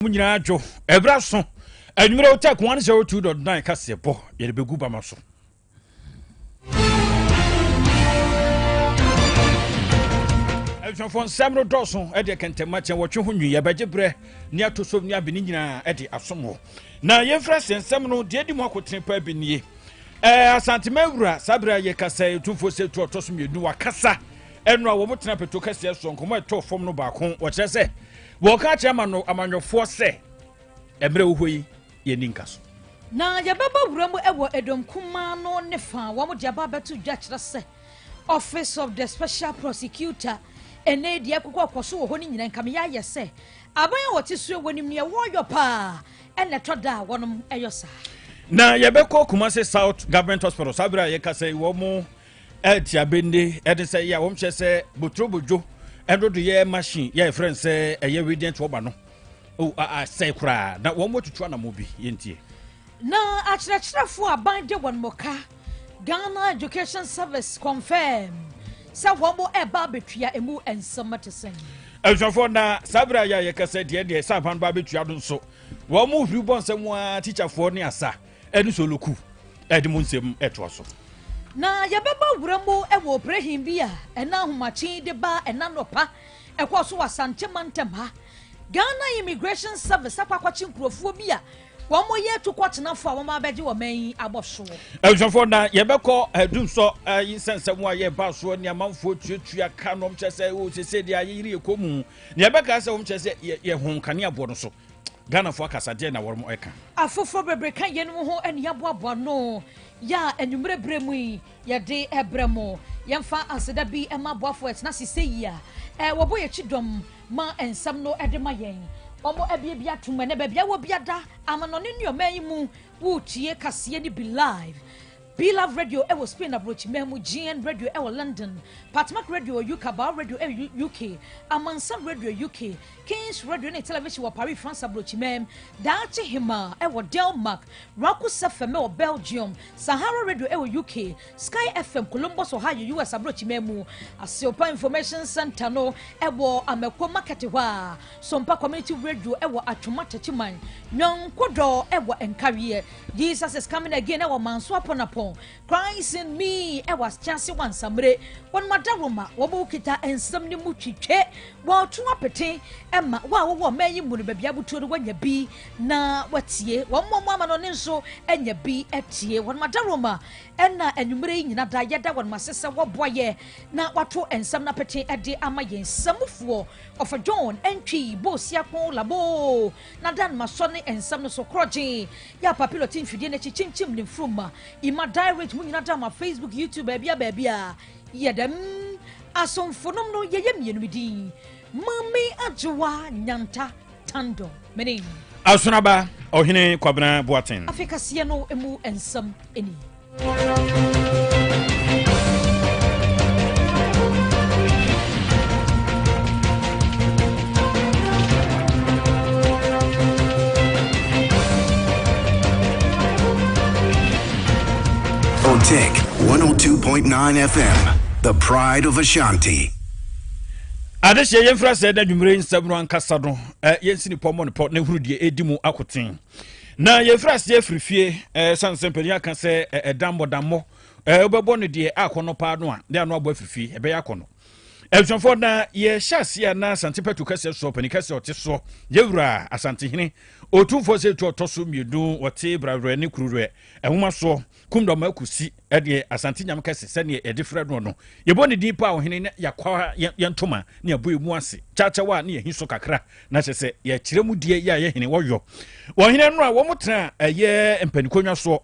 mu nyinaa dwo ɛberɛ aso anwummerɛ wotak 102.9 kaseɛ bɔ yɛde bɛgu bama so abusuafoɔ nsɛm no dɔɔso ɛde kɛntɛma kyɛn wɔtwe ho nwi yɛbɛgye berɛ ne ato so ne abene nyinaa ɛde asom wɔ na yɛmfrɛ sɛ nsɛm no deɛ di mu akotene paa bi nie ɛɛ asantema awura saa berɛ a yɛkasa ɛtumfoɔ sɛ tu ɔtɔ so mmienu wakasa ɛno a wɔn tena peto kɛseɛ so nkɔmɔ ɛtɔ fam no baako wɔkyerɛ sɛ Wɔka kyerɛ ama no amanyɔfoɔ sɛ, Mmerɛ wo hɔ yi yɛ ni nka so. Na yɛbɛba wura mu wɔ Edom kumaa no ne fa a wɔde aba abɛto dwa kyerɛ sɛ Office of the Special Prosecutor ɛnɛ yi deɛ ɛkokɔ kɔ so wɔ hɔ no nyinaa nka meyɛ ayɛ sɛ aban a wɔte so wɔ nim neɛ wɔyɔ paa ɛna ɛtɔ da a wɔnom ɛyɔ saa na yɛbɛkɔ Kumasi South Government Hospital saa berɛ a yɛka sɛ wɔn ɛtia bende ɛde sɛ yɛ a wɔn kyɛ sɛ boturobodwo ɛdodo yɛ machine yɛ ɛfrɛ sɛ ɛyɛ radiant wɔba no o asɛe koraa na wɔn wɔtutu anamɔ bi yɛntie. na akyerɛkyerɛfoɔ aban de wɔn mɔka ghana education service confirm sɛ wɔn ɛba abɛtua emu nsɛm te sɛn. abusuafoɔ na saa berɛ a yɛ a yɛkasa deɛ deɛ sɛ aban ba abɛtua no nso wɔn hwiri bɔ nsɛm a tikyafoɔ ne asa ɛne solo ku ɛde mo nsɛm ɛtoa so. na yɛbɛba wura mu wɔ oprehin bi a ɛna ahomakye de ba ɛna nɔpa ɛkɔɔ so wɔ asante mantam ha ghana immigration service akɔ akɔkye nkurɔfoɔ bi a wɔn mo yɛ tukɔtenafo a wɔn abɛgye wɔn mɛn yi abɔ so. ɛnusɔfo na yɛbɛkɔ ɛdumsɔ eh, ɛyi eh, nsɛnsɛm a yɛ ba soɔ ni amanfoɔ tuatua ka na wɔn kyerɛ sɛ o oh, sese deɛ ayɛ yiri ekɔ mu na yɛbɛka sɛ wɔn kyerɛ sɛ yɛ yɛ ho nkanea boɔ no so. Ghanafoɔ akasa deɛ na wɔn ɛka. Afoforɔ bebree ka yɛnum ho ɛne yɛaboaboa no yɛ a anwummerɛ berɛ mu yi yɛde ɛbrɛ mo yɛmfa aseda bi ɛma aboafoɔ ɛtena ase sɛ yi a eh, wɔbɔ yɛ kyi dɔm ma nsɛm no ɛde ma yɛn wɔn ɛbie bi atom ɛnɛ baabi awɔ bi ada amanɔne nneɛma yi mu wotie kaseɛ no bi live Be Love Radio ɛwɔ eh, Spain aburokyi mɛn mu GN Radio ɛwɔ eh, London Patmak Radio UK Bao Radio ɛwɔ eh, UK Amansan Radio UK King's Radio ne Television wɔ Paris, France aburokyiman, Daakye Hemaa wɔ Denmark, Rakus FM wɔ Belgium, Sahara Radio wɔ UK, Sky FM Columbus, Ohio, US aburokyiman mu. Aseopa Information Center no wɔ Amako Market hɔ a, Sompa Community Radio wɔ Atwoma Takyiman, Nyɔnkodɔ wɔ Nkareɛ, Jesus is Coming Again wɔ Manso Aponapon, Christ me ɛwɔ asekyase wɔ ansamire wɔn mu adaworoma wɔn mu kita nsɛm ne mu twitwe wɔn to apete ɛma wɔn a wɔwɔ ɔman yi mu no baabi abutuo no wɔanya bi na wɔatie wɔn mu ɔmo ama no ne nso anya bi atie wɔn mu adaworoma ɛna anwummerɛ yi nyina da yɛda wɔn mu ase sɛ wɔboa yɛ na wato nsɛm no apete ɛde ama yɛn samufoɔ ɔfa john ɛntwi boosia ko labo Na Dan ma sɔ ne nsɛm no so korɔgyee, yɛ a papilo te mfidie no akyi kyinkyim ne mfurum ma ima die rich mu nyina da ma facebook youtube baabia baabia yɛ dɛm asomfonom no yɛyɛ mmienu me din mame agyewa nyanta tando menin asonaba ɔhene kwabena boaten afei kaseɛ no mu nsɛm ni On Tech 102.9 FM, the pride of Ashanti. adehyɛ yɛmfiri asɛ da dwumerɛ nsɛm no ankasa no yɛnsi ne pɔ mmɔ ne pɔ na hunu deɛ ɛdi mu akoten Na yɛfiri aseɛ afiri fie eh, sane sɛ mpanin aka sɛ eh, ɛdammɔ dammɔ eh, wobɛbɔ no deɛ akɔnnɔ paa no a ne ano abɔ afiri fie ɛbɛyɛ akɔnnɔ abusuafoɔ na yɛhyɛ aseɛ a na asante pɛto kɛseɛ soɔ pani kɛseɛ ɔte soɔ yɛwura asantehene ɔtumfoɔ sɛ tu ɔtɔ so mmienu ɔte brawerɛ ne kuruwerɛ nwoma soɔ Kumdɔm Akusi deɛ Asante Nyam kɛse sɛdeɛ yɛde frɛ noɔ no. Yɛbɔ ne din pa ɔhene na yɛakwa yɛn ntoma ne abɔ emu ase kyaakyɛw a ne yɛhi so kakra na kyɛ sɛ yɛkyerɛ mu deɛ yɛ a yɛ hene wɔyɔ. Ɔhene no a wɔn tena ɛyɛ mpanikonnwa soɔ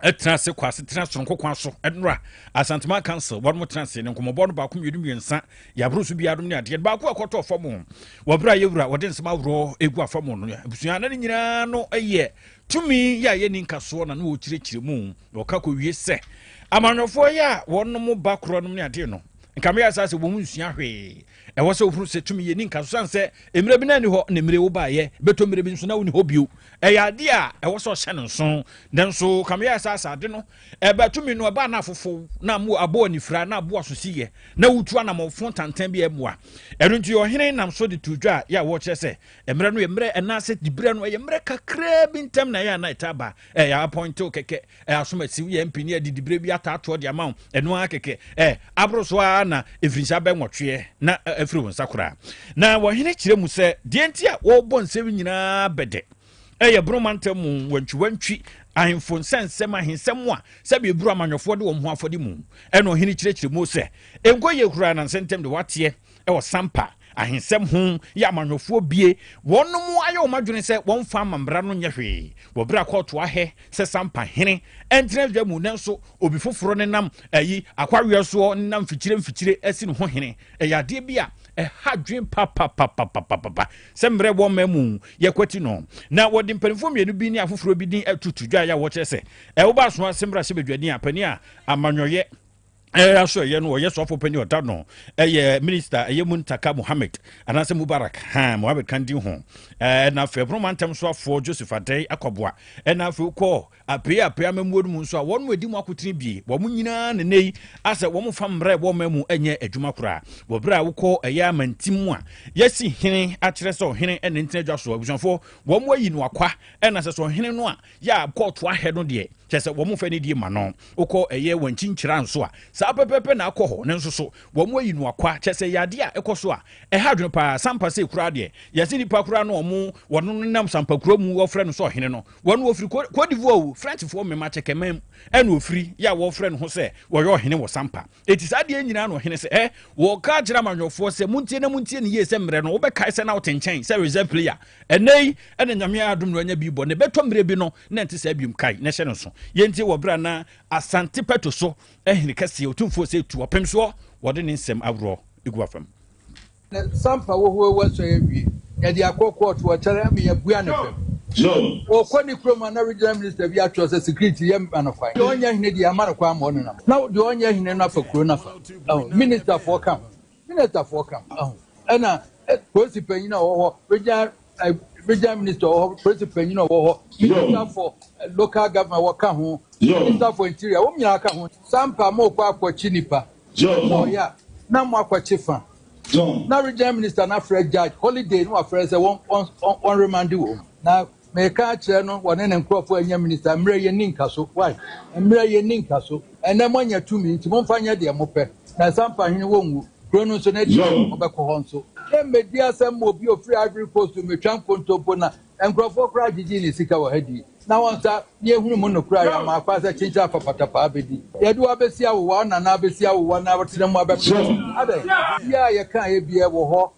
ɛtena ase kɔ ase tena soronko kwan so ɛnora asantuma council wɔn mo tena ase ne nkɔmɔbɔ no baako mmienu mmiɛnsa yaburo so biara ne adeɛ baako ɛkɔtɔ fam wɔbere a yɛwura wɔde nsɛm ahorow egu afam no abusua na ne nyinaa no ɛyɛ Tumi yɛ a yɛnni nkasoɔ na ne wɔkyerɛkyerɛ mu na ɔka kɔwie sɛ amanyɔfoɔ yɛ a wɔnom ba korɔ nom ne adeɛ no nka meyɛ saa sɛ wɔn nsua hwee ɛwɔ sɛ wohunu sɛ tumi yɛ ni nka so sane sɛ mmerɛ bi na ɛni hɔ ne mmerɛ wo baayɛ bɛtɔ mmerɛ bi nso na woni hɔ bio ɛyɛ adeɛ a ɛwɔ sɛ ɔhyɛ no nso nanso ka meyɛ saa sɛ ade no ɛba tumi no ɛba na afofo na mo aboa nifira na aboa so si yɛ na wotu anamɔfo tantan bi ɛmoa ɛno nti ɔhene nam so de to dwa a yɛ a wɔkyerɛ sɛ Mmerɛ no yɛ mmerɛ ɛnaase diberɛ no ɛyɛ mmerɛ kakraa bi ntɛm na ɛyɛ ana ɛtaa ba ɛ yɛ apɔntew kɛkɛ ɛ asom asi woyɛ mp ne ɛde diberɛ bi ataatoɔ de ama wo ɛno ara kɛkɛ ɛ aboro so ara na mfirinhyia bɛ nwɔtweɛ na afiri wo nsa koraa na wɔhene kyerɛ mu sɛ deɛ nti a wɔrebɔ nsɛm nyinaa bɛdɛ ɛyɛ bono mantam mu wantwiwantwi ahemfo nsɛnsɛm ahensɛm a sɛbi eburu amanyɔfoɔ de wɔn ho afɔde mu ɛna ɔhene kyerɛkyerɛ mu sɛ nkɔ yɛ kura na nsɛntɛm de wateɛ wɔ sampa ahensɛm ho yɛ amanyɔfoɔ bie wɔnom ayɛ wɔn adwene sɛ wɔmfa ama mmara no nyɛ hwee wɔ berɛ a kɔɔto ahɛ sɛ sampa hene ɛntena dwa mu nanso obi foforɔ ne nam ayi akwaweɛ soɔ ne nam mfikyire mfikyire asi ne ho hene ɛyɛ adeɛ bi a ɛha dwen papapapapapa sɛ mmerɛ wɔ mma mu yɛkwati no na wɔde mpanimfoɔ mmienu bi ne afoforɔ bi din atutu dwa yɛ a wɔkyerɛ sɛ ɛwoba asoa sɛ mmara hyɛ badwani a pani a amanyɔyɛ ɛyɛ aso ɛyɛ no ɔyɛ sɔfo panyin ɔda no ɛyɛ minista ɛyɛ mu ntaka mohammed anaasɛ mubarak han mohammed kan di ho ɛna afei ɛpono mantam so afoɔ joseph adɛn akɔboa ɛna afei wokɔ apee apee amamuo no mu nso a wɔn mu adi mu akotene bie wɔn nyinaa ne nnɛ yi asɛ wɔn fa mmerɛ wɔ ɔma mu ɛnyɛ adwuma koraa wɔ berɛ a wokɔ ɛyɛ amantim mu a yɛsi hene akyerɛ sɛ ɔhene ɛne ntena adwa so abusuafoɔ wɔn ayi no akwa ɛna sɛ sɛ ɔhene no a Yɛ a kɔɔto ahɛ no deɛ kyerɛ sɛ wɔn fɛ nidie ma no. Wokɔ ɛyɛ wankyinkyira nso a, saa pɛpɛɛpɛ na akɔ hɔ, nanso so wɔn ayi no akwa, kyerɛ sɛ ɛyɛ adeɛ a ɛkɔ so a ɛha adwene paa. Sampa sei koraa deɛ, yɛ se nipa koraa no wɔn wɔn no no nam Sampakurow mu wɔfrɛ no sɛ ɔhene no, wɔn wɔfiri Cote d'Ivoire o, Frenchfoɔ mema kyɛkɛman mu ɛna ɔfiri, yɛ a wɔfrɛ ne ho sɛ wɔyɛ ɔhene wɔ Sampa. ɛti saa deɛ nyinaa no ɔhene sɛ ɛ wɔka akyerɛ amanyɔfoɔ sɛ montie na montie ne yie sɛ mmerɛ no wobɛkae sɛ na wote nkyɛn sɛ reserve player ɛnɛ yi ɛna nyame adom no anya bi bɔ ne bɛtɔ mmerɛ bi no na ɛnte saa biom kae na ɛhyɛ no nso yɛntie wɔ berɛ na asante pɛto so ahene kɛseɛ ɔtumfoɔ sɛ tu ɔpem soɔ wɔde ne nsɛm aworɔ ɛgu afam Ne sampa wohoa wu asɔe awie. Yɛde akɔ kɔɔto ɔkyɛre ama yɛabua no fam. Ɔkɔ ne kurom a na regional minister bi atwerɛ sɛ security yɛ ma no kwan. Deɛ ɔnyɛ hene deɛ yɛama no kwan ma ɔnenam. Na deɛ ɔnyɛ hene no afa kuro no afa. Ahu? Ministerfoɔ ka ho. Ministerfoɔ ka ho. Ahu? Ɛna polisi panyin a ɔwɔ hɔ, regional eh, regional minister wɔ hɔ polisi panyin wɔ hɔ minister for eh, local government wɔka ho minister for interior wɔn nyinaa ka ho sampa mo kɔ akɔkye nipa mo ɔyɛ a na mo akɔkye fa na regional minister na afrɛ judge holiday no wafrɛ sɛ wɔn wɔn wɔn wɔn remande wɔn na mɛka akyerɛ no wɔne ne nkurɔfoɔ anya minister mmerɛ yɛ ni nka so why mmerɛ yɛ ni nka so Ɛnnɛ moanya tumi, enti momfa nyɛ deɛ mopɛ. Na nsa mpa hwene, wɔnwu. Kuro no nso, n'akyi no, mobɛkɔ hɔ nso. Yɛmmɛdii asɛm ma obi a ɔfiri Ivory Coast mmɛtwa nkontompo, na nkurɔfoɔ koraa gyegyee ne sika wɔ ha dii. Na wɔn nsa, na yɛhunu mo nokorɛ a yɛama akwan sɛ kyenkyen afa patapaa abɛdi. Yɛde wo abɛsi awowa, wo nana abɛsi awowa, na watena mu abɛpem sɛ, Adɛn? Biribiara a yɛkaeɛ biara wɔ hɔ.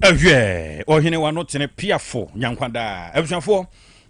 Ɛhwɛ, ɔhene wa no tene piafo nyankwa daa. Abusuafoɔ,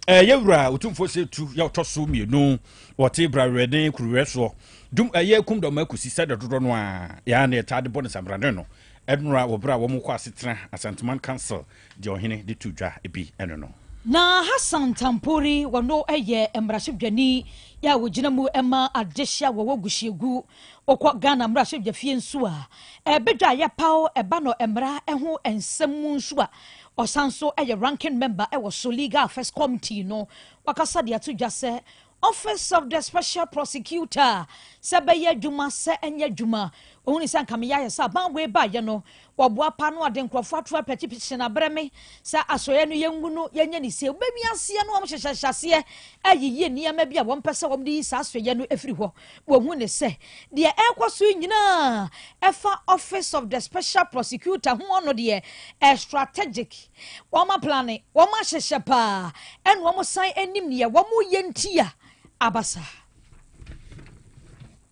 ɛyɛ wura otumfoɔ sɛ tu yɛ ɔtɔ so mmienu wɔte brawerɛden kuruwɛ soɔ. Dum ɛyɛ kum dɔm akusi sɛ dɔdodɔ no a yɛa na yɛtaa de bɔ ne sambrane no. Ɛnora wɔ berɛ a wɔn kɔ asetena Asanteman Council deɛ ɔhene de tu dwa bi ɛno no. Na Hassan Tampori wɔ no ɛyɛ mmaraso dwani yɛ a ɔgyina mu ɛma adehye a wɔwɔ Gusiegu Wokɔ Ghana mmarahyɛbdwafie nso a, ɛbdwa a yɛpaw ba no mmara ho nsɛm mu nso a, ɔsan nso yɛ Ranking Member wɔ so Legal Affairs Committee no. Wakasa de ato dwa sɛ Office of the Special Prosecutor, sɛ bɛyɛ adwuma sɛ ɛnyɛ adwuma, ohuni sɛ anka meyɛ ayɛ sɛ aban wei baeɛ no, Ɔboa pa no ɔde nkurɔfoɔ ato apɛkye pii hyena berɛ me saa asɔeɛ no yɛ ngu no yɛnyɛ ne sie wobɛwi aseɛ no wɔn hyehyɛ hyɛ aseɛ ayiyi nneɛma bi a wɔn pɛ sɛ wɔn de yi saa asɔeɛ no ɛfiri hɔ wɔn hu ne sɛ deɛ ɛrekɔ so nyinaa ɛfa office of the special prosecutor ho ɔno deɛ ɛ strategic wɔn aplane wɔn ahyehyɛ paa ɛna wɔn san anim neɛ wɔn yɛ ntia abasa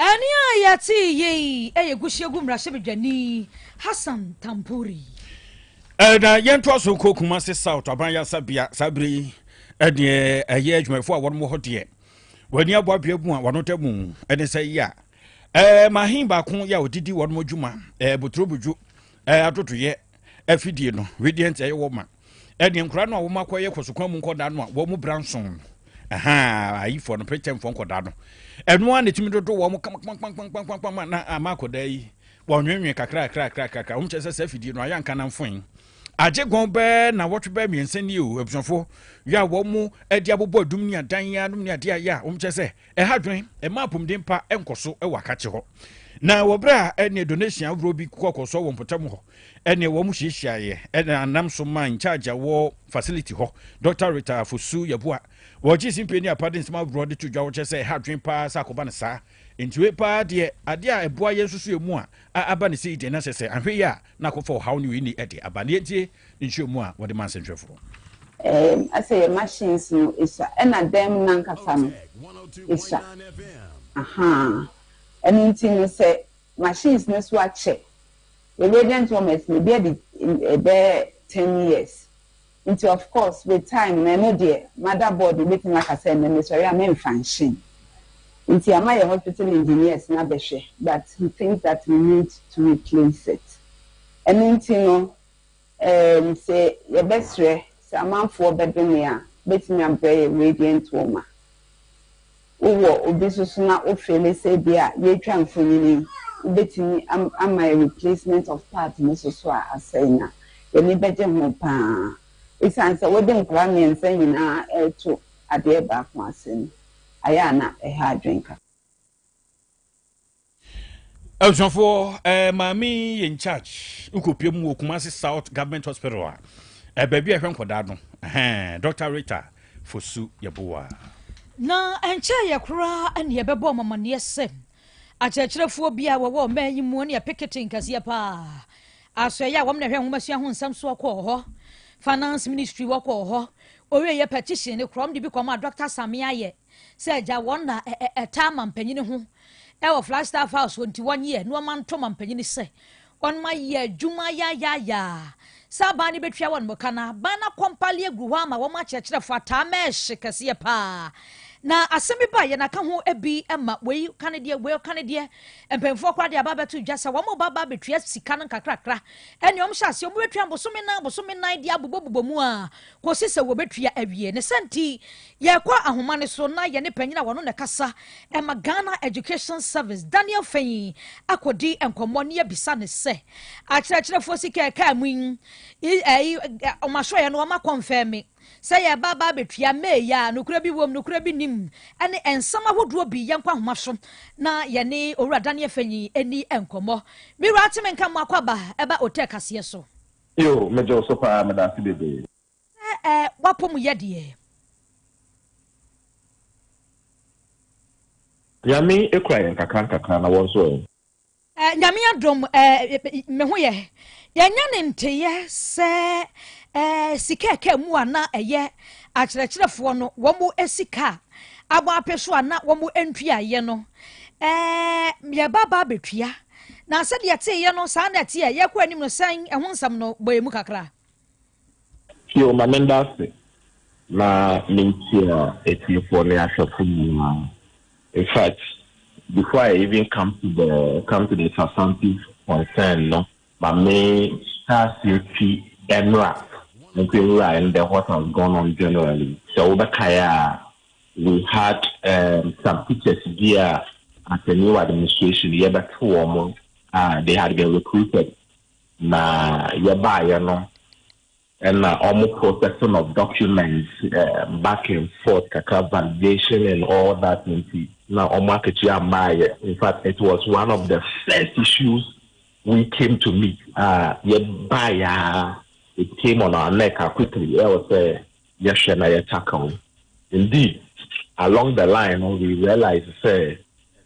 Ɛnne a yɛtee yi yɛ Gusiagu mmarahyɛbadwani Hassan Tampuri. Na yɛntoa so nkɔ Kumasi South aban yasabea saa bere yi ɛdeɛ ɛyɛ adwumayɛfoɔ a wɔn wɔ hɔ deɛ wɔani abɔ abea mu a wɔn da mu ɛne sɛ yɛ a mahin baako yɛ a ɔdidi wɔn adwuma boturobodwo adodoyɛ afidie no wedeɛ nti ɛyɛ wɔ ma ɛne nkora no a wɔn akɔyɛ kɔsokwan mu nkɔda no a wɔn mu bra nson no ayifoɔ no prekyɛmfoɔ nkɔda no ɛno a na ɛtumi dodo wɔn kamakpamakpamakpamakpama na ama akɔda yi wɔnwenwe kakrakrakrakra wɔn kyɛ sɛ sɛ afidie no ayɛ nka na mfoe agye gɔn bɛɛ na wɔtwe bɛɛ mmiɛnsa ni o abusuafo yɛ a wɔn mu ɛde abobɔ adum ne adan yɛ anom ne adeɛ ayɛ a wɔn kyɛ sɛ Ɛha dwen, ɛma apɔmuden pa nkɔ so wɔ akakye hɔ. Na wɔ berɛ a ɛne donation ahorow bi kɔkɔ so wɔ mpɔtam hɔ, ɛne wɔn hyiahyiaeɛ ɛna nam so maa incharge a wɔ facility hɔ, Dɔkta Rita Fosu Yeboah, wɔ Gyesi Mpie ne Apade nsɛm ahoroɔ de to dwa wɔ kyerɛ sɛ ɛha dwen paa sɛ akɔba no saa. Nti wei paa deɛ, adeɛ a ɛboa yɛn nsusuiɛ mu a, a aba no sei deɛ na kyerɛ sɛ anhwɛ yie a na akɔfa ɔhaw ne wei ni de aba. Nea ntie, nkyerɛmu a wɔde maa sɛnkyerɛfo no. Eem, ɛsɛ yɛ machines no sua, ɛna dan mu no ankasa no sua. Ahaa. Ɛno nti no sɛ machines no so akyɛ, yɛ radiant warmers no, ebi adi bɛyɛ ten years. Nti of course with time no ɛno deɛ motherboard no bɛtumi aka sɛ ɛnnɛ mesɔre a memfa nhyem. Nti ama yɛ hospital engineers no abɛhwɛ but he thinks that we need to replace it. Ɛno nti no Ɛɛm, sɛ yɛbɛsrɛ sɛ amanfoɔ bɛdome a, wobɛtumi abrɛ yɛn Radiant Woman. Wowɔ obi nso so na wo feele sɛ ebia yɛretwa mfonini yi, wobɛtumi am, ama yɛn replacement of part no nso so a asɛe no a, yɛn ani bɛgye ho pa ara. Esiane sɛ wode nkwadaa mmiɛnsa nyinaa reto adeɛ baako ase no, ayɛ a na ɛha adwene kakra. abusuafoɔ ɛɛ eh, maame yɛ in charge nkɔpie mu wɔ kumase south government hospital a eh, baabi a ɛhwɛ nkɔdaa no eh, dr rita fosu yɛboa na ɛnkyɛ yɛ koraa ɛne yɛbɛbɔ ɔmamaneɛ sɛ akyerɛkyerɛfoɔ bi a wɔwɔ ɔmaa yi mu ne yɛ pekete nkɛseɛ paa aso ɛyɛ a wɔm na ɛhwɛ nwomasua ho nsɛm so ɔkɔɔ hɔ finance ministry wɔkɔɔ hɔ ɔwieɛ petition ne korɔm de bi kɔma dr same ayɛ sɛ agya wɔn na ɛtaa ma mpanyin ho wɔ Flagstaff House hɔ nti wɔnyɛ nneɛma nto ma mpanyin sɛ wɔma yɛ adwuma yayaayaa sɛ aban no bɛtua wɔn mo ka no aban no akɔmpale agu hɔ ama wɔn akyerɛkyerɛfo ataa ma ɛhye kɛseɛ paa na asɛm bi baeɛ na ka ho bi ma wei ka ne deɛ wei ka ne deɛ mpanyinfoɔ koraa de aba abɛto dwa sɛ wɔn ba ba abɛtua sika no nkakrakra ɛne wɔn hyɛ aseɛ wɔn bɛtua bosome nan bosome nan de abobɔbobɔ mu a kɔsi sɛ wɔbɛtua awie ne sɛ nti Yɛkɔ ahoma no so na yɛne panyin a ɔno na ɛkasa ma Ghana Education Service, Daniel Fenyi, akɔdi nkɔmmɔ na yɛabisa no sɛ, akyerɛkyerɛfoɔ sika ɛkaa mu yi, ɛyi, wɔn asɔeɛ no wɔn akɔnfɛn me sɛ yɛreba aba abɛtua May yi a, nokorɛ bi wom, nokorɛ bi nim, ɛne nsɛm ahodoɔ bi. Yɛnkɔ ahoma so na yɛne Owura Daniel Fenyi ɛni nkɔmmɔ. Me wura, te me nka mo akɔ aba ɛba Otɛ kaseɛ so. Yoo, megye wo so paa, meda ase bebree. Sɛ ɛ w'apɔmuyɛ deɛ. Nyame kura yɛn nkakra nkakra na wɔn nso ɛ. Ɛ Nyame adom ɛ me ho yɛ. Yɛnyɛ ne nteyɛ sɛ ɛ sika ɛka mu a na ɛyɛ akyerɛkyerɛfoɔ no wɔn ɛsi ka abɔ apɛ so a na wɔn ɛntua yɛ no ɛ yɛba ba abɛtua na sɛdeɛ teeɛ no saa na ɛteɛ yɛkɔ anim no sɛn ɛho nsɛm no bɔ yɛ mu kakra. Bio, ma menda ase na menkyia atiefoɔ ne ahwɛfo nyinaa. In fact, before I even come to the come to the substantive concern no, ma me hyɛ aseɛ fi ɛnora nso nwura in the what has gone on generally. Sɛ wobɛkae a, we had um, some teachers bi a as a new administration yɛbɛto wɔn a they had been recruited Na yɛbaeɛ no na wɔn processing of documents um, back and forth kakra validation and all that nti na wɔn akatua ammaeɛ in fact it was one of the first issues we came to meet a yɛbaeɛ a it came on our neck quickly ɛwɔ sɛ yɛhwɛ na yɛ tackle no indeed along the line no we realize sɛ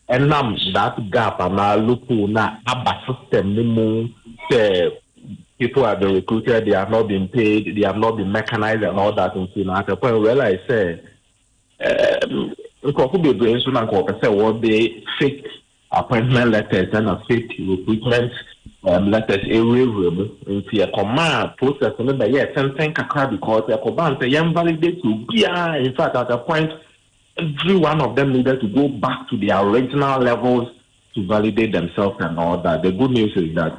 ɛnam that gap anaa loophole na aba system no mu sɛ people have been recruited they have not been paid they have not been mechanized and all that nti na at a point we realize sɛ um, nkurɔfo bebree nso na nka wɔpɛ sɛ wɔde fake appointment letters ɛna fake recruitment um, letters ɛwurawura mu nti ɛkɔmaa process no bɛyɛɛ tenten kakra because ɛkɔbaa no sɛ yɛn validate obiara in fact at a point every one of them needed to go back to their original levels to validate themselves and all that. The good news is that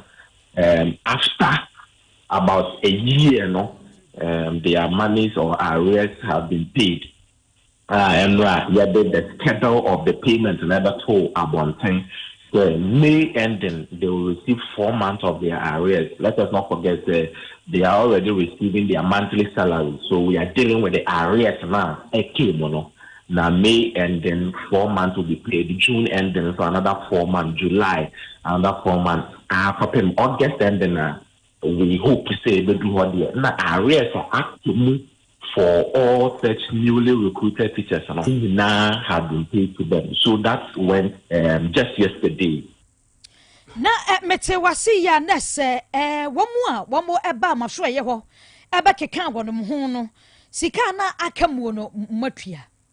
um, after about a year, no, um, their monies or arrears have been paid. a ɛno a yɛde the schedule of the payment na ɛbɛtoo abɔnten sɛ May ending they will receive four months of their arrears. Let us not forget sɛ they are already receiving their monthly salary so we are dealing with the arrears no a ɛtee mu no. Na May ending four months will be paid, June ending so another four months, July another four months a kɔpem August ending a we hope sɛ ɛbɛdu hɔ deɛ na arrears a ate mu for all such newly recruited teachers no nyinaa had been paid to them so that went um, just yesterday. na eh, mete wase yi a na sɛ eh, wɔn a wɔn ɛbaa mo asoɛyɛ hɔ ɛbɛkeka wɔn ho no sika na aka muo no moatua.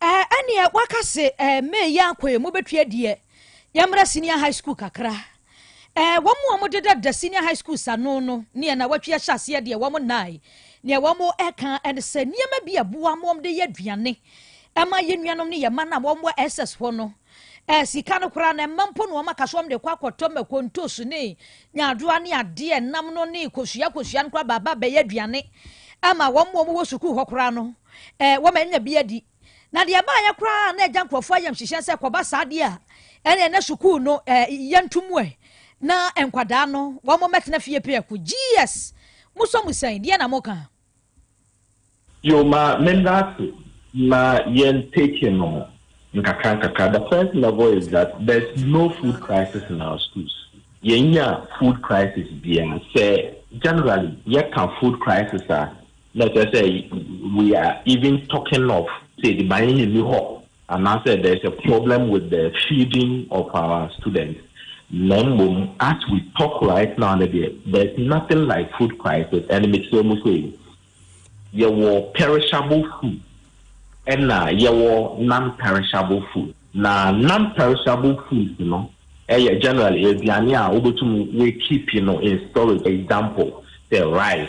Ɛɛ ɛneɛ waka se ɛɛ May yi ankɔ yɛ mobɛtwi adiɛ yɛmmra senior high school kakra. Ɛɛ wɔn a wɔde dada senior high school sano no neɛ na wɔatwi ahyɛ aseɛ deɛ wɔn nnae neɛ wɔn ɛka ɛne sɛ nneɛma bi a ɛboa wɔn de yɛ aduane ɛma yɛn nuanom ne yɛn mma no a wɔn wɔ SS hɔ no Ɛɛ sika no koraa no mma mpo na wɔn aka sɛ wɔn de kɔ akɔtɔ mako ntoos ne nyaadoa ne adeɛ nam no ne kosua kosua no koraa baaba bɛyɛ aduane ama wɔn wɔn wɔ sukuu hɔ koraa no ɛɛ wɔn anya bi adi na deɛ ɛbaayɛ koraa na ɛgya nkurɔfoɔ ayam hyehyɛ sɛ kɔba saa deɛ a ɛne na sukuu no ɛɛ yɛntum ɛ na nkwadaa no wɔn mɛtena fie pɛɛko gs mo sɔ mo sɛn deɛ na mo ka. Yo ma menda ase na yɛn take no nkakra nkakra the first level is that there's no food crisis in our schools yɛn nya food crisis biara sɛ generally yɛ ka food crisis a na ɛsɛ sɛ we are even talking of sɛ ediban yɛ ni hɔ Anaasɛ there is a problem with the feeding of our students, na mmom as we talk right now no deɛ, there is nothing like food crisis, ɛne mekyerɛ mu sɛ yi, yɛwɔ perishable food ɛna yɛwɔ non-perishable food. Na non-perishable foods no ɛyɛ generally aduane a wobɛtum woakeepi no in storage, example sɛ rice,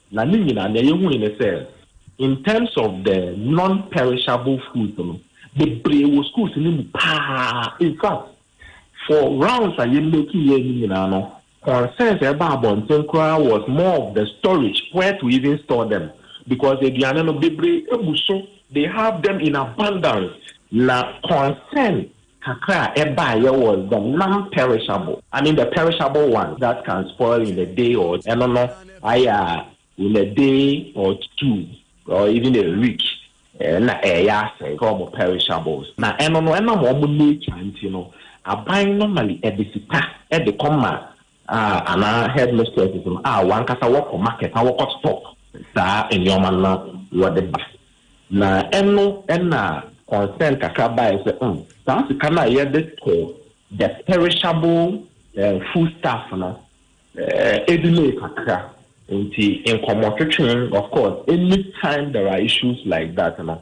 Na ne nyinaa nea yehui ne sɛ in terms of the non perishable foods no bebree wɔ schools no mu paa in fact for rounds a yɛ make yɛɛ no nyinaa no concerns a ɛbaa abɔnten koraa was more of the storage where to even store them because aduane no bebree gu so they have them in abundance na concern Kakra a ɛbaeɛ was the non-perishable. I mean the perishable ones that can spoil in a day or ɛno no ayɛ a in a day or two or even a week na ɛreyɛ asɛe sɛ wɔn perishables. Na ɛno no ɛnam wɔn nature nti no, aban normally ɛde sika ɛde kɔ ma a anaa headmistresses no a wɔn ankasa wɔkɔ market na wɔkɔ stock saa nneɛma no na wɔde ba. Na ɛno na concern kakra baeɛ sɛ hmm, saa sika no a yɛde tɔ the perishable eh, food stuff no eh, ɛdilei kakra nti nkɔmmɔtwetwe of course anytime there are issues like that no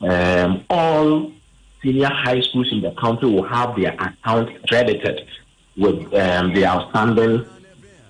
Um all senior high schools in the country will have their accounts credited with um, the outstanding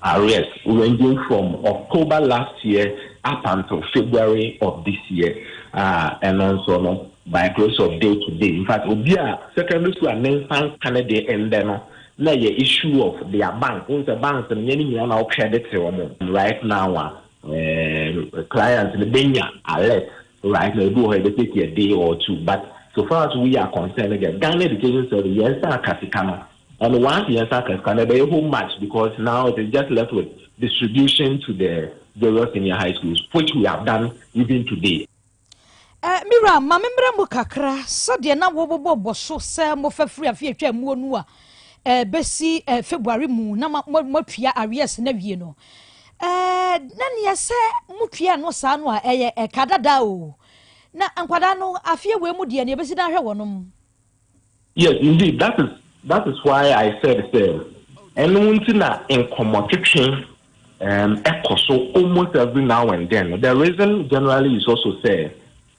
arrears ranging from October last year up until February of this year. Uh, and also, no, by close of day to day. In fact, obi a secondary school and then san kane de ɛndɛ no na yɛ issue of their bank. N sɛ bank no yɛ ne nyinaa na ɔkredit wɔn. Right now, uh, clients no benya alert Right now ebi wɔ hɔ yɛbɛ take a day or two but so far as we are concerned no deɛ Ghana education service yɛn nsa aka sika no and once yɛn nsa aka sika no ɛbɛyɛ home match because now it is just left with distribution to the various senior high schools which we have done even today. Eh, me wura ma me mmerɛ mu kakra sɛdeɛ na wɔbɔbɔ bɔ so sɛ mofa firi afe atwa muo no a eh, bɛsi eh, february mu na moatua areas no awie no Ɛɛ, na neɛ sɛ motua no saa no a, ɛyɛ ɛka dada o. Na nkwadaa no, afeɛ wei mu deɛ, neɛ ɛbɛsi dan hwɛ wɔnom. Yes, indeed, that is, that is why I said sɛ, ɛno nti na nkɔmmɔtwetwe um, ɛkɔ so almost every now and then. The reason generally is also sɛ,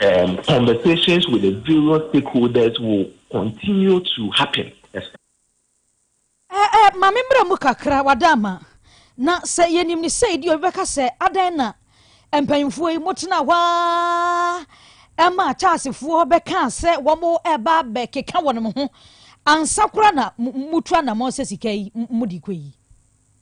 and conversations with the various stakeholders will continue to happen. Eh, eh, mame mmerɛ mu kakra wada ama na sɛ yɛnim ne sɛ ɛdi obi bɛka sɛ adɛn na mpanyimfoɔ yi motena hɔ a ɛma akyaasefoɔ bɛkaa sɛ wɔn ɛba bɛkeka wɔn ho ansa kora na mutu anamɔ sɛ sika yi mudi kɔ yi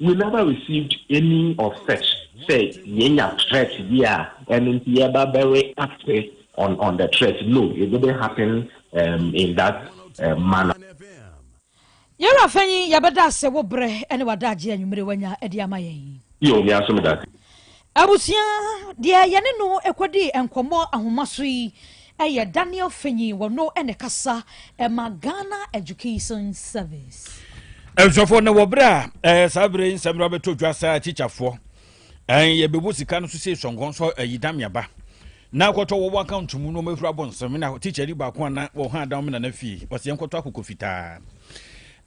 We never received any of such sɛ yɛnya threat bi a ɛno nti yɛba bɛ react on on the threat no it didn't happen um, in that um, manner. Yɛwura Fanyin, yɛbɛda ase wo berɛ ne w'adagyeɛ anwummere wanya de ama yɛn. Yo, me aso me dase. Abusua, Deɛ yɛne no kɔdii nkɔmmɔ ahomaso yi yɛ Daniel Fenyi, ɔno na ɛkasa ma Ghana Education Service. Abusuafoɔ, na wɔ berɛ a saa berɛ yi nsɛmmerɛ bɛtɔ dwa saa tikyafoɔ, yɛbɛbu sika no so sei sɔnkɔn sɔ ayi da meaba na kɔtɔ wɔwɔ account mu no ɔmɛhura bɔ nsɛm na tikya ni baako a na wɔha adam me nana fie ɔsɛ yɛnkɔtɔ akokɔ fitaa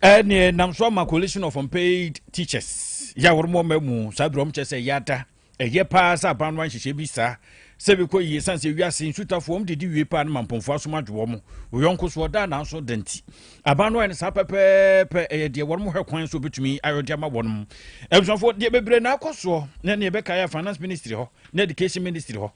ɛne nam so ama coalition of unpaid teachers yɛ a wɔn ɔma mu saa duro ɔmo kyɛ sɛ ɛyɛ ada ɛyɛ paa sɛ aban no anhyehyɛ bi saa sɛ bi kɔ yie san sɛ wiase nsutafoɔ wɔn didi wie paa no ma mpɔnfoɔ asom adwo wɔn oyɔnko so ɔda nanso dɛnti aban no ayɛ no saa pɛpɛɛpɛ ɛyɛ deɛ wɔn hwɛ kwan so obetumi ayɔ de ama wɔn abusuafoɔ deɛ bebree na akɔ soɔ na nea ɛbɛka yɛ finance ministry hɔ na education ministry hɔ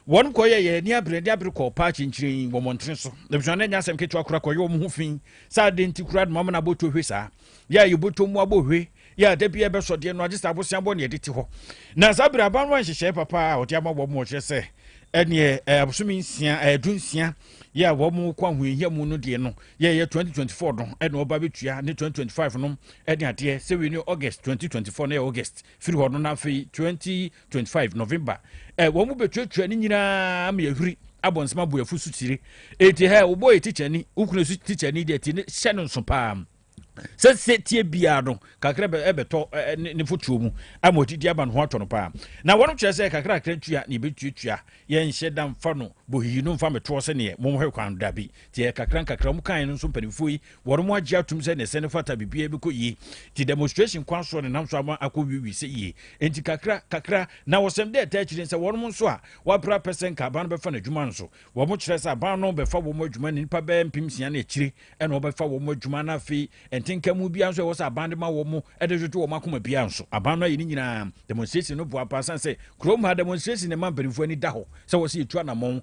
wɔn kɔ yɛ yɛ ni abere ni abere kɔ paa kyinkyin wɔn ntene so abusua no anya asɛm ketewa kora kɔ yɛ wɔn ho fi Sɛ adɛn nti koraa na mama no abɔ tohwe saa? Yɛ a yɛbɔtɔ mu abɔ hwe yɛ a da bi ɛbɛsɔ deɛ no agye sɛ aboseabɔ ne ɛde te hɔ. Na saa berɛ aban no anhyehyɛe papa a ɔde ama wɔn ɔkyerɛ sɛ ɛneɛ abosome nsia ɛdu nsia yɛ a wɔn kɔ ahoyɛhia mu no deɛ no yɛ yɛ 2024 no ɛna ɔba bɛtua ne 2025 no ɛne adeɛ sɛ wei ne August 2024 no yɛ August firi hɔ no na afei 20 25 november eh, wɔn mu bɛtuatua ne nyinaa ma yɛhwiri abɔnsɛm aboyɛfo so tire enti hɛ wobɔ yɛ tikyani wokunu so tikyani deɛ ti ne hyɛ no nso paa sɛ sɛ tie biara no kakra ɛbɛtɔ eh, eh, ne fotuo mu ama ɔtiti aba no ho atɔ no paa na wɔnom kyerɛ sɛ kakra kakra tua ne yɛbɛtuatua yɛnhyɛ da mfa no bɔhiyi no mfa metoɔ sɛneɛ momhwɛ kwan da bi tiɛ kakra nkakra mu kan no nso mpanimfoɔ yi Wɔnom agye atum sɛ nɛsɛ no fata biribiara bɛkɔ yie nti demonstration kwan soɔ nenam so ama akɔ wiwi sɛ yie nti kakra kakra na wɔsɛm dɛ ɛtaa akyire nsɛ wɔnom nso a wɔabrɛ apɛ sɛ nka aban no bɛfa nadwuma nso wɔn kyerɛ sɛ aban no bɛfa wɔn adwuma ne nipa bɛɛ mpem nsia ne akyire ɛna wɔbɛfa wɔn adwuma na afei ɛntenka mu biara nso ɛwɔ sɛ aban de ma wɔn ɛde dwodwo wɔn akoma biara nso aban no ayɛ ne nyinaa demonstration no boa paa san sɛ kurom ha demonstration ne ma mpanimfoɔ ani da hɔ sɛ wɔsɛ yɛtu anamɔn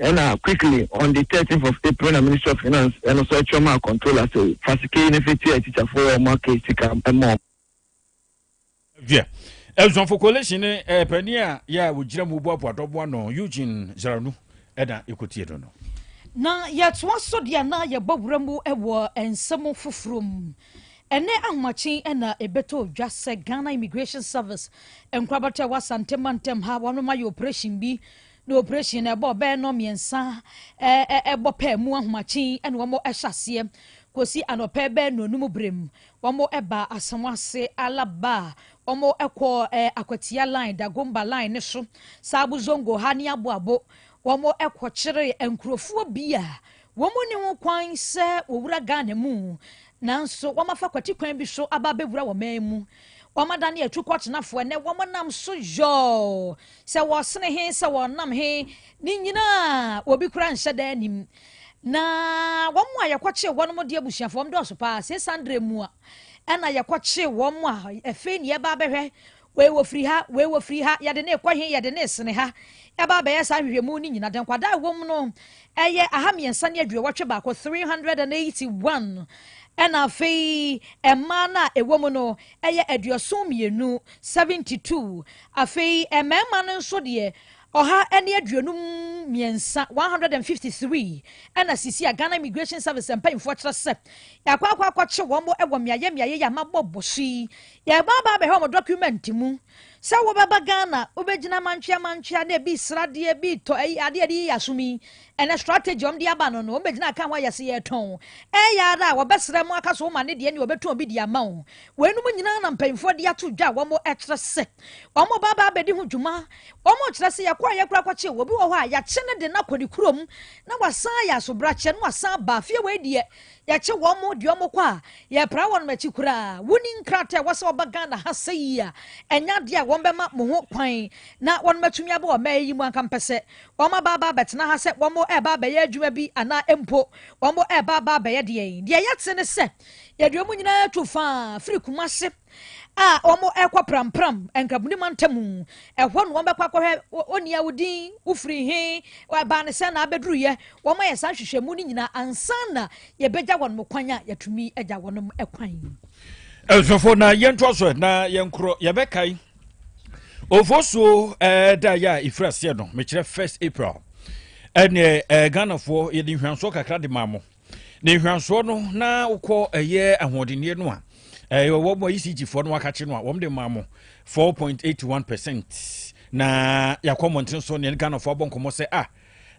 Ɛna quickly on the thirteenth of April na Ministry of Finance ɛno nso ɛtwerɛ maa Controller sɛ fa sika yi no fa tua atikyafoɔ a wɔaka sika ma wɔn. Deɛ Abusuafo Coalition ne eh, panin a yɛ a wɔgyina mu boaboa dɔbo ano Eugene Zaranu ɛna ɛkɔtie no no. Na yɛtoa so deɛ na yɛbɔ wura mu wɔ nsɛm foforɔ mu. Ɛnɛ ahomakye na ɛbɛtɔ dwa sɛ Ghana Immigration Service nkorabata wɔ Asante mantam ha wɔn ayɛ operation bi na oprehyɛn no ɛbɔ bɛyɛ nnɔn mmiɛnsa ɛbɔ pɛ mu ahomakyen na wɔn hyɛ aseɛ kɔsi anɔpɛ bɛyɛ nnɔnum berɛ mu wɔn ba Asɛm ase Alaba wɔn kɔ Akwatia line Dagomba line no so Sabo Zongo ha ne Aboabo wɔn kɔkyere nkurɔfoɔ bi a Wɔn nni ho kwan sɛ wɔwura Ghana mu, nanso wɔafa kwati kwan bi so aba abɛwura wɔn man mu. Wɔadane atukɔtenafo, ɛnnɛ wɔnam so yɔɔ sɛ wɔsene he, sɛ wɔnam he, ne nyinaa obi koraa nhyɛ da anim. Na wɔn a yɛkɔkyee wɔn de abusuafo wɔn dɔɔso paa. Sɛ Sandre mu a, ɛna yɛkɔkyee wɔn a ɛfei ne yɛba abɛhwɛ Wei wɔfiri ha, wei wɔfiri ha, yɛde no rekɔ he, yɛde no resene ha. Ɛba abɛyɛ saa ahwehwɛmu no nyina, deɛ nkwadaa a ɛwɔ mu no, ɛyɛ aha mmiɛnsa ne aduowɔtwe baako, 381, ɛna afei mmaa no a ɛwɔ mu no, ɛyɛ aduɔson mmienu, 72, afei mmarima no nso deɛ, ɔha ne aduonum mmiɛnsa 153 ɛna sisi a Ghana Immigration Service mpanyinfoɔ kyerɛ sɛ akɔ akɔ akɔkye wɔn wɔ mmeaeɛ mmeaeɛ yi a mabɔ bɔso yi Yɛreba aba abɛhwɛ wɔn document mu sɛ wobɛba Ghana, wobɛgyina mantwea mantwea na ebi sradeɛ, ebi tɔ ayi adeɛ yɛde yiyi asom yi, ɛnɛ strategy wɔn de aba no no, wɔn bɛgyina aka ho ayɛ se yɛretɔn. Ɛyɛ ara a wɔbɛsrɛ mo aka so wɔn ane deɛ nea wɔbɛtɔn bi de ama wɔn. Weinom nyinaa na mpanyinfoɔ de ato dwa a wɔkyerɛ sɛ wɔn reba aba abɛdi ho dwuma. Wɔn kyerɛ sɛ yɛkɔeɛ koraa kɔkye obi wɔ hɔ a yɛakye ne de no akɔ ne kurom na wasan ayɛ asobrakyɛ na wasan aba. Afei wei deɛ Yɛkye wɔn de wɔn kɔ a, yɛpra wɔn akyi koraa. Wonni nkrataa a ɛwɔ sɛ wɔba Ghana ha sɛ yi a, ɛnyɛ adeɛ a wɔbɛma mo ho kwan na wɔatumi aba wɔ mmeae yi mu. Anka mpɛ sɛ wɔaba aba abɛtena ha sɛ wɔreba abɛyɛ adwuma bi anaa mpo wɔreba aba abɛyɛ deɛn? Deɛ yɛte ne sɛ, yɛde wɔn nyinaa tu faa firi Kumasi. a wɔkɔ prampram nkabuni mantam mu. Ɛhɔ na wɔbɛkɔ akɔhwɛ onii a wodin wofiri he, ɛbaa ne sɛ na abɛduruyɛ. Wɔayɛ saa nhwehwɛmu no nyinaa ansa na yɛbɛgya wɔn kwan a yɛatumi agya wɔn kwan. Ɛsofo na yɛntoa so na yɛnkorɔ yɛbɛkae ofosuo eh, da yɛ a ɛfiri aseɛ no mekyerɛ 1 April ɛneɛ eh, Ghanafoɔ yɛde nhwansoɔ kakra de maa mo ne nhwɛsoɔ no na wokɔ ɛyɛ ahoɔdenneɛ no a ɛyɛ wɔn mu ECG foɔ no akakye no a wɔn de maa mo four point eight one percent na yɛakɔ mmɔnten so ne Ghanafoɔ abɔ nkɔmmɔ sɛ ah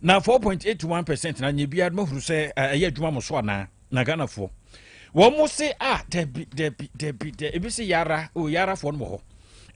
na four point eight one percent na nyɛ biara no mahunu sɛ ɛyɛ adwuma mo so anaa na Ghanafoɔ wɔn mo se ah dabi dabi dabi dabi ebi se yara o yara foɔ no wɔ hɔ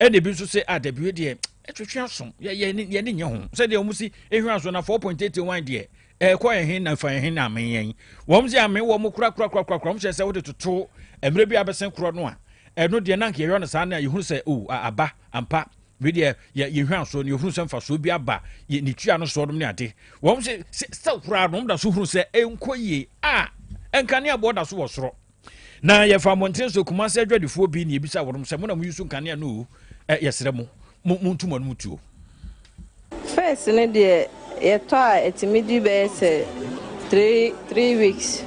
ɛna ebi nso se ah dabi wei deɛ ɛtwetwe asom yɛ yɛ ne yɛ ne nyɛ ho sɛdeɛ wɔn si ehwɛ aso na four point eight one deɛ ɛkɔ yɛn he na fa yɛn he na ame yɛn wɔn sɛ ame wɔn korakorakorakora wɔn hyɛ sɛ wode toto mmerɛ bi abɛsen korɔ no a ɛno deɛ nanka yɛyɔ no saa no a yɛhunu sɛ o aba ampa wei deɛ yɛhwɛ asoɔ no yɛhunu sɛ mfasoɔ bi aba ne tua no soɔ nom ne ade wɔn sɛ sɛ koraa nom da so hunu sɛ ɛnkɔ yie a ɛnka ne aboɔ da so wɔ soro na yɛfa mmɔnten so kumase adwadifoɔ bi na yɛbisa wɔnom sɛ mo na moyusu nkanea no o eh, yɛsrɛ mo montu mo anom tuo first no deɛ yɛtɔ a ɛtumi di bɛyɛ sɛ three three weeks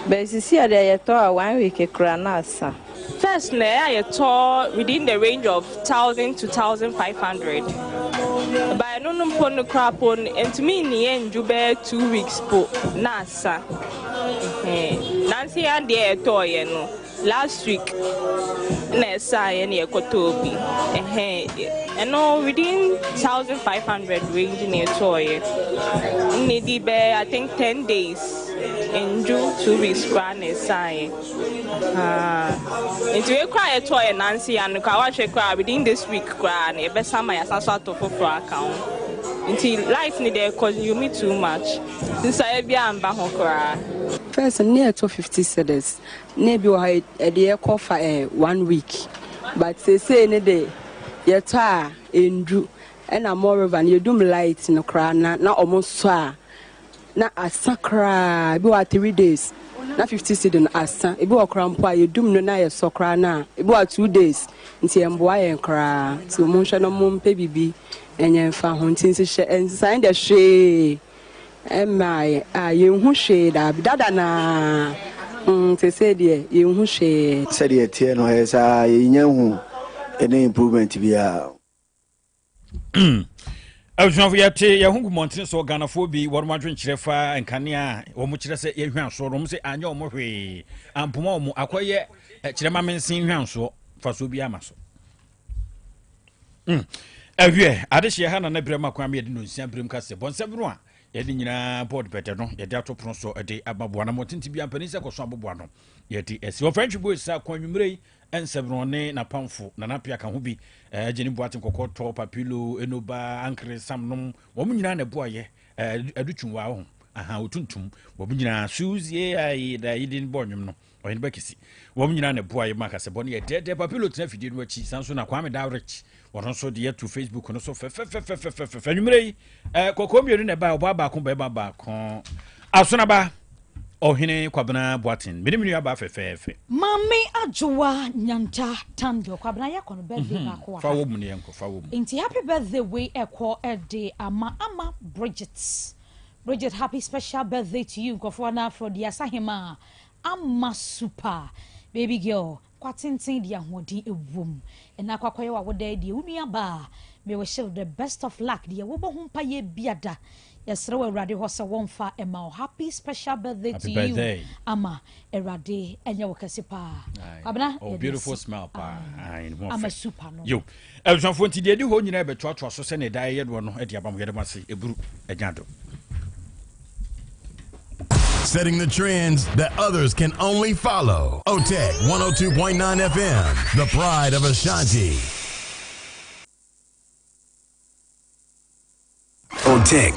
bɛsisi a deɛ yɛtɔ a one week kora na asa first na ɛyɛ a yɛtɔ within the range of thousand to thousand five hundred baɛ no no mpo no kora po no ɛntumi nniyɛ ndwu bɛyɛ two weeks po na asa sa ɛhɛɛ nanse yɛ adeɛ ɛtɔɔ yɛ no last week na ɛsaa yɛ na yɛkɔtɔɔ bi ɛhɛɛ ɛno within thousand five hundred range na ɛtɔɔ yɛ ne di bɛɛ i think ten days ndu two weeks koraa na ɛsaa yɛ nti wei koraa yɛtɔɔ yɛ nanse yɛ ano koraa wahwɛ koraa within this week koraa na yɛbɛsa ma yɛasan so atɔ foforɔ aka ho nti light ne deɛ consume too much. Nsesaeɛ biara amma ho koraa. First no na ɛtɔ fifty cedis na ebi wɔ hɔ a ɛde ɛkɔ fa ɛ one week but seesei ne de yɛtɔ a endu ɛna moreover no yɛdum light no koraa na na wɔn sɔ a na asa koraa ebi wɔ hɔ a three days na fifty cedi no asa ebi wɔ koraa mpo a yɛdum no na yɛsɔ koraa no a ebi wɔ a two days. nti ɛmboa yɛn koraa nti mo nhwɛ no mo mpɛ bibi nyɛ nfa ho nti nhyehyɛ nsesaeɛ deɛ hwee ɛmmaa yɛn a yɛn hu hwee daabi dada naa mm sesei deɛ yɛn hu hwee. Sɛdeɛ ɛteɛ no ɛyɛ saa yɛn nya nhu any improvement biara. abusuafo yɛte yɛn ho gu mmɔntene so ghanafoɔ bi wɔn adwenkyerɛ fa nkanea a wɔn kyerɛ sɛ yɛhwɛ asoɔ no wɔn sɛ anyɛ wɔn hwee ampoma wɔn akɔyɛ kyerɛ ma mensen hwɛ asoɔ fasoɔ bi ama so ɛhwɛ hmm. adehyeɛ ha na ne berɛ ma kwan ma yɛde no nsia berɛm ka sɛ bɔnsɛm no a yɛde nyinaa bɔɔd bɛdɛ no yɛde ato pono so de ama boa no mmɔtente bi ampani sɛ kɔso aboboa no yɛde asi wɔfrɛ ntwebo ɛsa kwan nwummerɛ yi Nsɛmmerɛwne N'apamfo, Nana Appiah ka ho bi, eh, Jenny Boateng Kɔkɔɔtɔ, Papilo, Enoba, Ankere, Sam nom, wɔn nyinaa na ɛboaeɛ, eh, Adu Twumwa wɔ ho, aha, Otuntum, wɔn nyinaa, Suzie, ayi, da yi din bɔɔ nnwom no, Ɔheneba Kisi, wɔn nyinaa na ɛboaeɛ ma akasɛbɔ no yɛ dɛɛdɛɛ, Papilo tena afidie no akyi, saa nso na Kwame Dawrich, wɔn nso de ato facebook no so fɛfɛfɛfɛfɛfɛ anwummerɛ yi ɛɛ eh, kɔkɔɔ mmienu na ɛbaa ɔbaa baako bɛrima baako asonaba ɔhene kwabena boaten mene me nuabaa fɛfɛɛfɛ maame adwowa nyanta tando kwabena yɛkɔ no birthday mhm. baako fa wɔ mu ne yɛnkɔ fa wɔ mu nti happy birthday wei ɛkɔ ɛde ama ama bridget bridget happy special birthday to you nkurɔfoɔ no afrɛ deɛ asahema ama super baby girl Kwa tenten deɛ ahoɔden wom ɛna akɔ akɔyɛ wawodaɛ deɛ wo nua baa me wish wo the best of luck deɛ wobɔ ho mpaeɛ biada yɛsrɛ wɔ awurade hɔ sɛ wɔmfa ɛma wo happy special birthday to you ama awurade ɛnyɛ wo kɛse paa kwabena oh, beautiful smile paa ama super no Abusuafo, enti deɛ ɛdi hɔ nyinaa bɛtoatoa so sɛnea ɛdaa yɛyɛ noɔ no de aba mo. Yɛda mo ase. Ɛburu anya adom. setting the trends that others can only follow. Otech 102.9 FM, the pride of Ashanti. Otech